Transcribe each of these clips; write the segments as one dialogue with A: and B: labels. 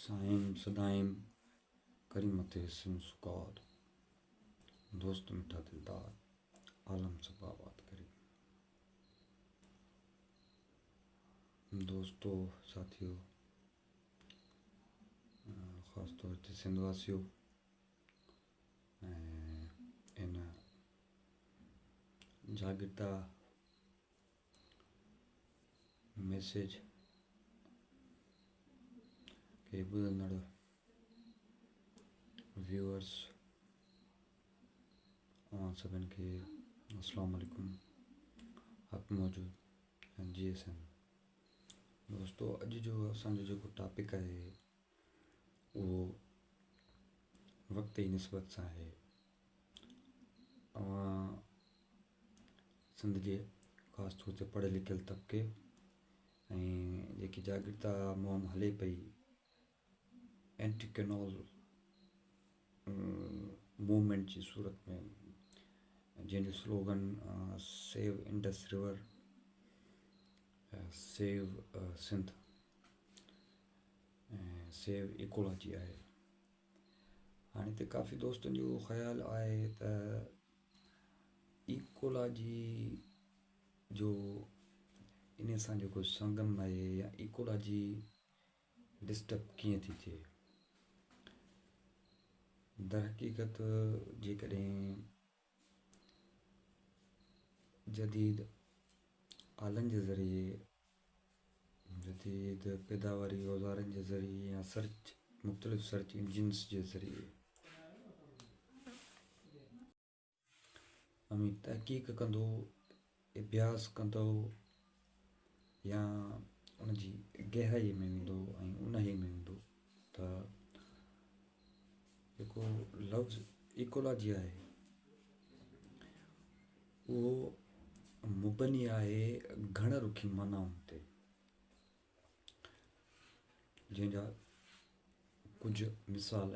A: سائين سدائين ڪري مٿي سن سڪار دوست مٺا دلدار عالم سب آباد ڪري دوستو ساتھيو خاص طور تي سنڌ واسيو ۽ ان جاڳتا ميسيج کي ٻڌندڙ ويورس اوهان سڀن کي السلام عليڪم حق موجود جي ايس ايم دوستو اڄ جو اسان جو جيڪو ٽاپڪ آهي اهو وقت جي نسبت سان آهي. اوهان سنڌ جي خاص طور تي پڙهيل لکيل طبقي ۽ جيڪي جاگرتا مهم هلي پئي اينٽي ڪينال موومينٽ جي صورت ۾ جنهن جو slogan save Indus river save Sindh ۽ save ecology آهي. هاڻي هتي ڪافي دوستن جو خيال آهي ته ايڪولاجي جو ان سان جيڪو سنگم آهي يا ايڪولاجي ڊسٽرب ڪيئن ٿي ٿئي در حقيقت جيڪڏهن جديد آلن جي ذريعي، جديد پيداواري اوزارن جي ذريعي يا مختلف سرچ انجنز جي ذريعي اوهين تحقيق ڪندو اڀياس ڪندو يا ان جي گهرائيء ۾ ويندو ۽ اونهي ۾ ويندو ته جيڪو لفظ ايڪولاجي آهي اهو مبني آهي گهڻ رخي معنائن تي جنهن جا ڪجهه مثال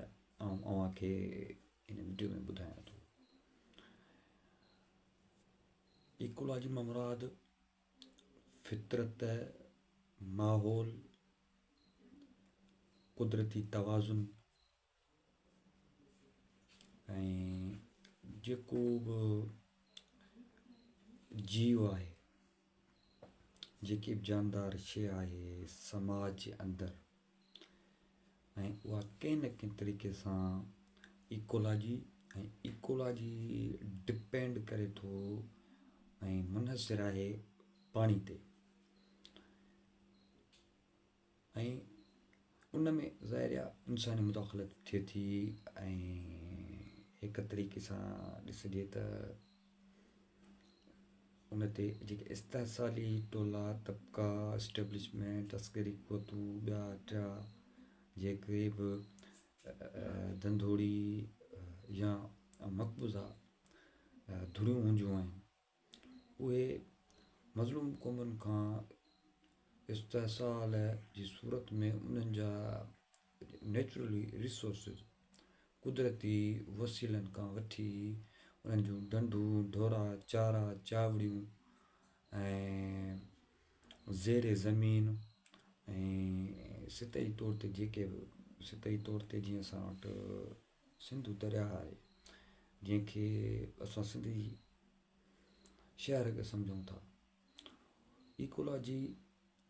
A: آئون اوهان کي ان وڊيو ۾ ٻڌايان ٿو ايڪولاجي مان مراد فطرت، ماحول، قدرتي توازن ۽ جيڪو به جيو آهي، جيڪي به جاندار شيء آهي سماج جي اندر ۽ اها ڪنهن نه ڪنهن طريقي سان ايڪولاجي ۽ ايڪولاجي ڊپينڊ ڪري ٿو ۽ منحصر آهي پاڻي تي ۽ ان ۾ ظاهر آهي انساني مداخلت ٿئي ٿي ۽ هڪ طريقي سان ڏسجي ته ان تي جيڪي استحصالي ٽولا طبقا اسٽيبلشمينٽ عسڪري قوتون ٻيا ٽيا جيڪي به ڌنڌوڙي يا مقبوضا ڌريون هونديون آهن اهي مظلوم قومن کان استحصال جي صورت ۾ انهن جا نيچرل ريسورسز، قدرتي وسيلن کان وٺي انهن جون ڍنڍون، ڍورا، چارا، چاوڙيون ۽ زير زمين ۽ سطحي طور تي جيڪي به سطحي طور تي جيئن اسان وٽ سنڌو درياهه آهي جنهن کي اسان سنڌي شهر کي سمجهون ٿا ايڪولاجي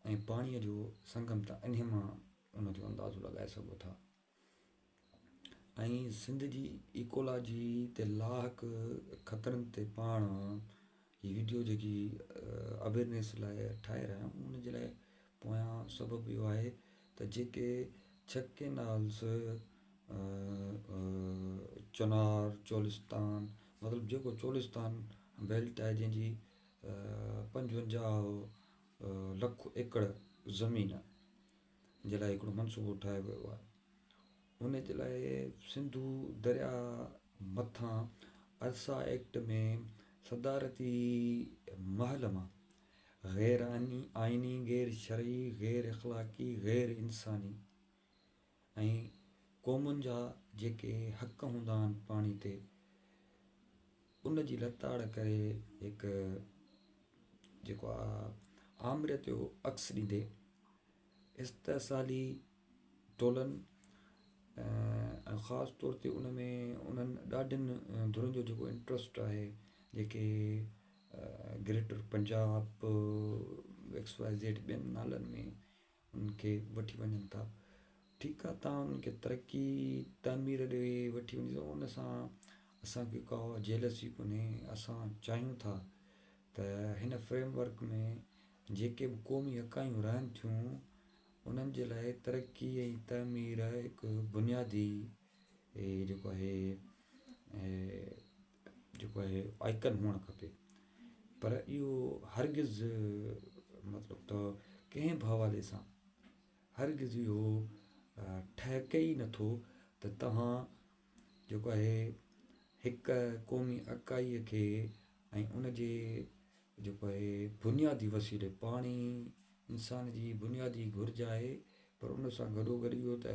A: ۽ پاڻيء جو سنگم ته انهي مان ان جو اندازو لڳائي سگهو ٿا ۽ سنڌ جي ايڪولاجي تي لاحق خطرن تي پاڻ هي وڊيو جيڪي اويرنيس لاء ٺاهي رهيا آهيون ان جي لاء پويان سبب اهو آهي ته جيڪي ڇهه ڪينالز چنار چولستان مطلب جيڪو چولستان بيلٽ آهي جنهن جي پنجونجاهه لک ايڪڙ زمين جي لاء هڪڙو منصوبو ٺاهيو ويو آهي ان جي لاء سنڌو دريا مٿان ارسا ايڪٽ ۾ صدارتي محل مان غير آئيني غير شرعي غير اخلاقي غير انساني ۽ قومن جا جيڪي حق هوندا آهن پاڻي تي ان جي لتاڙ ڪري هڪ جيڪو آ آمريت جو عڪس ڏيندي استحصالي ٽولن ۽ خاص طور تي ان ۾ انهن ڏاڍين ڌرين جو جيڪو انٽرسٽ آهي جيڪي greater Punjab X Y Z ٻين نالن ۾ انهن کي وٺي وڃن ٿا ٺيڪ آ تان انهن کي ترقي تعمير ڏي وٺي وڃي سگهو ان سان اسان کي ڪا جيلسي ڪونهي اسان چاهيون ٿا ته هن فريم ورڪ ۾ جيڪي به قومي اڪايون رهن ٿيون انهن جي لاء ترقي ۽ تعمير هڪ بنيادي جيڪو آهي جيڪو آهي آئڪن هئڻ کپي پر اهو هرگز مطلب ته ڪنهن به حوالي سان هرگز اهو ٺهڪي ئي نٿو ته توهان جيڪو آهي هڪ قومي اڪائي کي ۽ ان جي جيڪو آهي بنيادي وسيلي پاڻي انسان جي بنيادي گهرج آهي پر ان سان گڏو گڏ اهو ته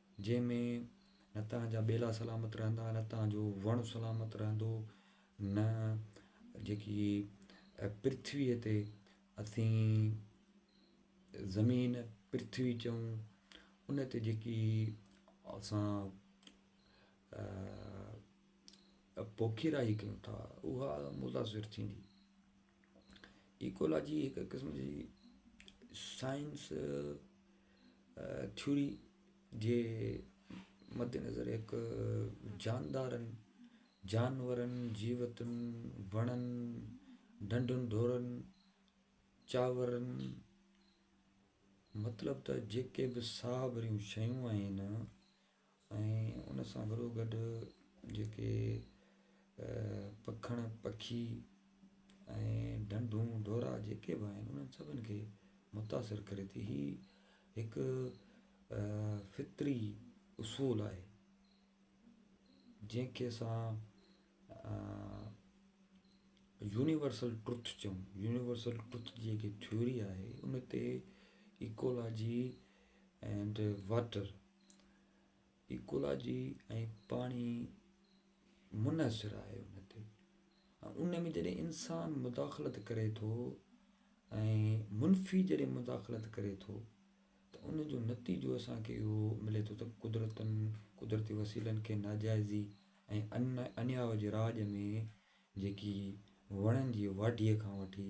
A: جنهن ۾ نه توهان جا ٻيلا سلامت رهندا، نه توهان جو وڻ سلامت رهندو، نه جيڪي پرٿويء تي اسين زمين، پرٿوي، چئون، ان تي جيڪي اسان پوکيرائي ڪيون ٿا، اها متاثر ٿيندي. ايڪولاجي هڪ قسم جي سائنس ٿيوري جي مدنظر هڪ جاندارن، جانورن، جيوتن، وڻن، ڍنڍن ڍورن، چاورن، مطلب ته جيڪي به ساهه ڀريون شيون آهن، ان سان گڏو گڏ جيڪي پکڻ پکي ۽ ڍنڍون ڍورا جيڪي به آهن انهن سڀن کي متاثر ڪري ٿي هي هڪ فطري اصول آهي جنهن کي اسان يونيورسل ٽروٿ چئون يونيورسل ٽروٿ جي جيڪي ٿيوري آهي ان تي ايڪولاجي اينڊ واٽر ايڪولاجي ۽ پاڻي منحصر آهي ان تي ان ۾ جڏهن انسان مداخلت ڪري ٿو ۽ منفي جڏهن مداخلت ڪري ٿو ته ان جو نتيجو اسانکي اهو ملي ٿو ته قدرتن قدرتي وسيلن کي ناجائزي ۽ ان انياء جي راڄ ۾ جيڪي وڻن جي واڍيء کان وٺي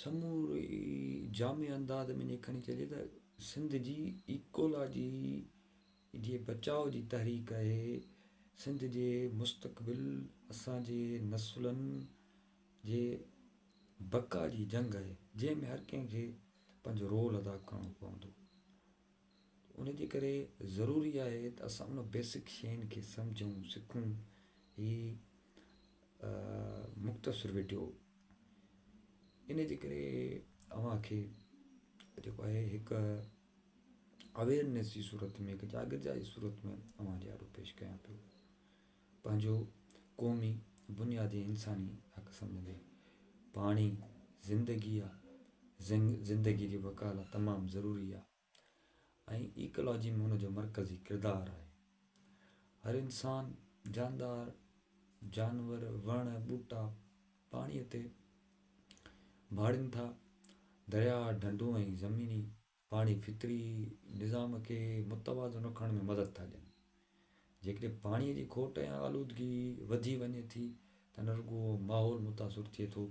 A: سموري جامع انداز ۾ جيڪڏهن چئجي ته سنڌ جي ايڪولاجي جي بچاء جي تحريڪ آهي، سنڌ جي مستقبل اسان جي نسلن جي بقا جي جنگ آهي، جنهن ۾ هر ڪنهن کي پنهنجو رول ادا ڪرڻو پوندو. ان جي ڪري ضروري آهي ته اسان ان بيسڪ شين کي سمجهون سکون هي مختصر ويڊيو ان جي ڪري اوهان کي جيڪو آهي هڪ اويرنس جي صورت ۾ هڪ جاگرجا جي صورت ۾ اوهان جي آڏو پيش ڪيان پيو پنهنجو قومي بنيادي انساني حق سمجهندي پاڻي زندگي آ زنگ زندگي جي بقا لا تمام ضروري آ ۽ ايڪالاجي ۾ ان جو مرڪزي ڪردار آهي هر انسان جاندار جانور وڻ ٻوٽا پاڻي تي ڀاڙين ٿا درياء ڍنڍون ۽ زميني پاڻي فطري نظام کي متوازن رکڻ ۾ مدد ٿا ڏين. جيڪڏهن پاڻي جي کوٽ يا آلودگي وڌي وڃي ٿي ته نه رڳو ماحول متاثر ٿئي ٿو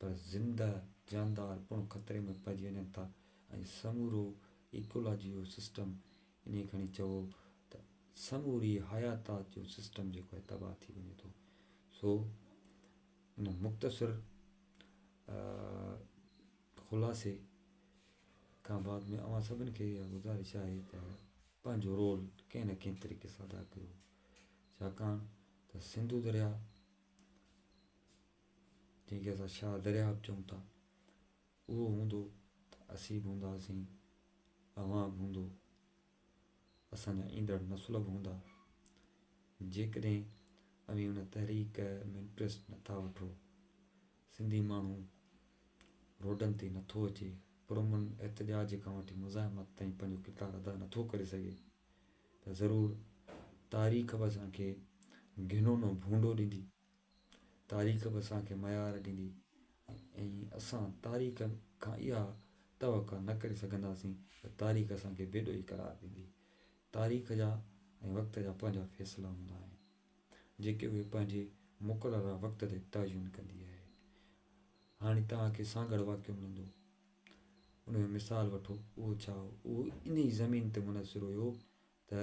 A: پر زنده جاندار پڻ خطري ۾ پئجي وڃن ٿا ۽ سمورو ايڪولاجيو سسٽم ائين کڻي چئو ته سموري حياتات جو سسٽم جيڪو آهي تباهه ٿي وڃي ٿو سو ان مختصر خلاصي کان بعد ۾ اوهان سڀن کي اها گذارش آهي ته پنهنجو رول ڪنهن نه ڪنهن طريقي سان ادا ڪيو ڇاڪاڻ ته سنڌو درياء جنهن کي اسان شاهه درياء به چئون ٿا اهو هوندو ته اسين به هونداسين اوهان به هوندو اسان جا ايندڙ نسل به هوندا جيڪڏهن اوهين ان تحريڪ ۾ انٽرسٽ نٿا وٺو سنڌي ماڻهو روڊن تي نٿو اچي، پرامن احتجاج کان وٺي مزاحمت تائين پنهنجو ڪردار ادا نٿو ڪري سگهي ته ضرور تاريخ به اسان کي گهنونو ڀونڊو ڏيندي، تاريخ به اسان کي ميار ڏيندي ۽ اسان تاريخ کان اها توقع نه ڪري سگهنداسين ته تاريخ اسان کي بيڏوهي قرار ڏيندي. تاريخ جا ۽ وقت جا پنهنجا فيصلا هوندا آهن. جيڪي اهي پنهنجي مقرره وقت تي تعين ڪندي آهي. هاڻي توهان کي سانگهڙ واقعو ملندو. ان جو مثال وٺو، اهو ڇا هو؟ اهو انهي زمين تي منحصر هيو ته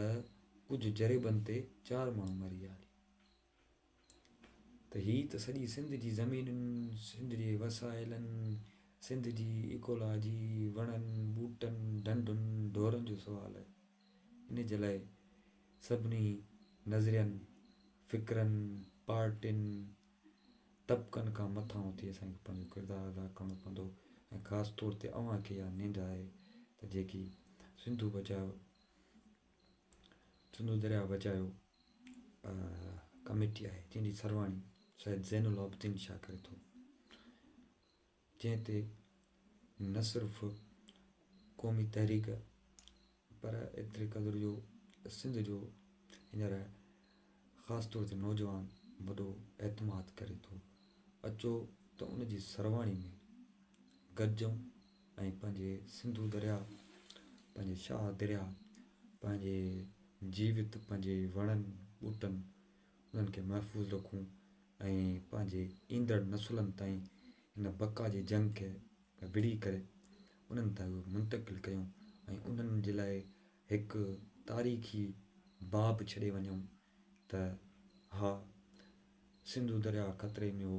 A: ڪجهه جريبن تي چار ماڻهو مري ويا هلي. ته هي ته سڄي سنڌ جي زمينن، سنڌ جي وسائلن، سنڌ جي ايڪولاجي، وڻن، ٻوٽن، ڍنڍن، ڍورن جو سوال آهي. ان جي لاء سڀني نظرين، فڪرن، پارٽين، طبقن کان مٿانهون ٿي اسان کي پنهنجو ڪردار ادا ڪرڻو پوندو ۽ خاص طور تي اوهان کي اها ننڊ آهي ته جيڪي سنڌو بچايو سنڌو درياء بچايو ڪميٽي آهي جنهن جي سرواڻي سيد زين العابدين شاهه ڪري ٿو. جنهن تي نه صرف قومي تحريڪ پر ايتري قدر جو سنڌ جو هينئر خاص طور تي نوجوان وڏو اعتماد ڪري ٿو. اچو ته ان جي سرواڻي ۾ گڏجون ۽ پنهنجي سنڌو درياء، پنهنجي شاهه درياء، پنهنجي جيوت، پنهنجي وڻن ٻوٽن، انهن کي محفوظ رکون ۽ پنهنجي ايندڙ نسلن تائين ان بقا جي جنگ کي وڙهي ڪري انهن تائين اهو منتقل ڪيون ۽ انهن جي لاء هڪ تاريخي باب ڇڏي وڃون ته ها سنڌو درياهه خطري ۾ هو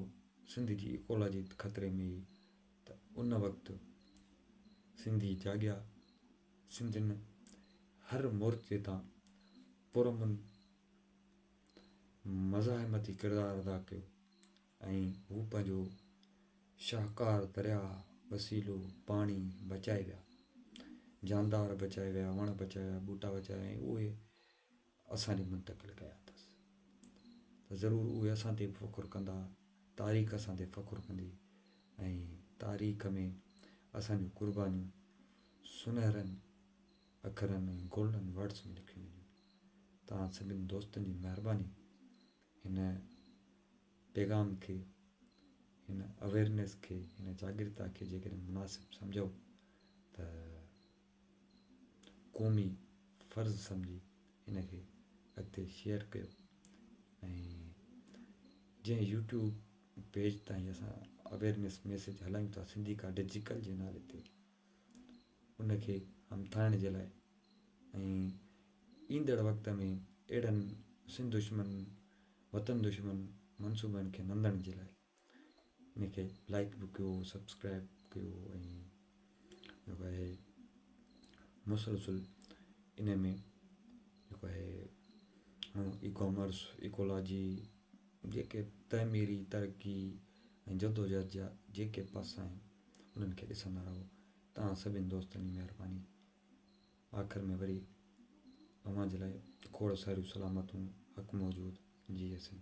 A: سنڌ جي ايڪولاجي خطري ۾ هئي ته ان وقت سنڌي جاڳيا سنڌين هر مورچي تان پرامن مزاحمتي ڪردار ادا ڪيو ۽ هو پنهنجو شاهڪار درياء وسيلو پاڻي بچائي ويا جاندار بچائي ويا وڻ بچائي ويا ٻوٽا بچائي ويا اهي اسان ڏي منتقل ڪيا اٿس ته ضرور اهي اسان تي فخر ڪندا تاريخ اسان تي فخر ڪندي ۽ تاريخ ۾ اسانجون قربانيون سنهرن اکرن ۽ گولڊن ورڊس ۾ لکيون وڃن. توهان سڀني دوستن جي مهرباني هن پيغام کي، هن اويرنيس کي، هن جاڳرتا کي جيڪڏهن مناسب سمجهو ته قومي فرض سمجهي هن کي اڳتي شيئر ڪيو ۽ جنهن يوٽيوب پيج تان هي اسان اويرنيس ميسيج هلايون ٿا سنڌي ڪا ڊجيڪل جي نالي تي ان کي همٿائڻ جي لاء ۽ ايندڙ وقت ۾ اهڙن سنڌ دشمن وطن دشمن منصوبن کي نندڻ جي لاء ان کي لائڪ به ڪيو سبسڪرائب ڪيو ۽ جيڪو آهي مسلسل ان ۾ جيڪو آهي اي ڪامرس ايڪولاجي جيڪي تعميري ترقي ۽ جدوجهد جا جيڪي پاسا آهن انهن کي ڏسندا رهو توهان سڀني دوستن جي مهرباني آخر ۾ وري اوهان جي لاء کوڙ ساريون سلامتون حق موجود جي حسين.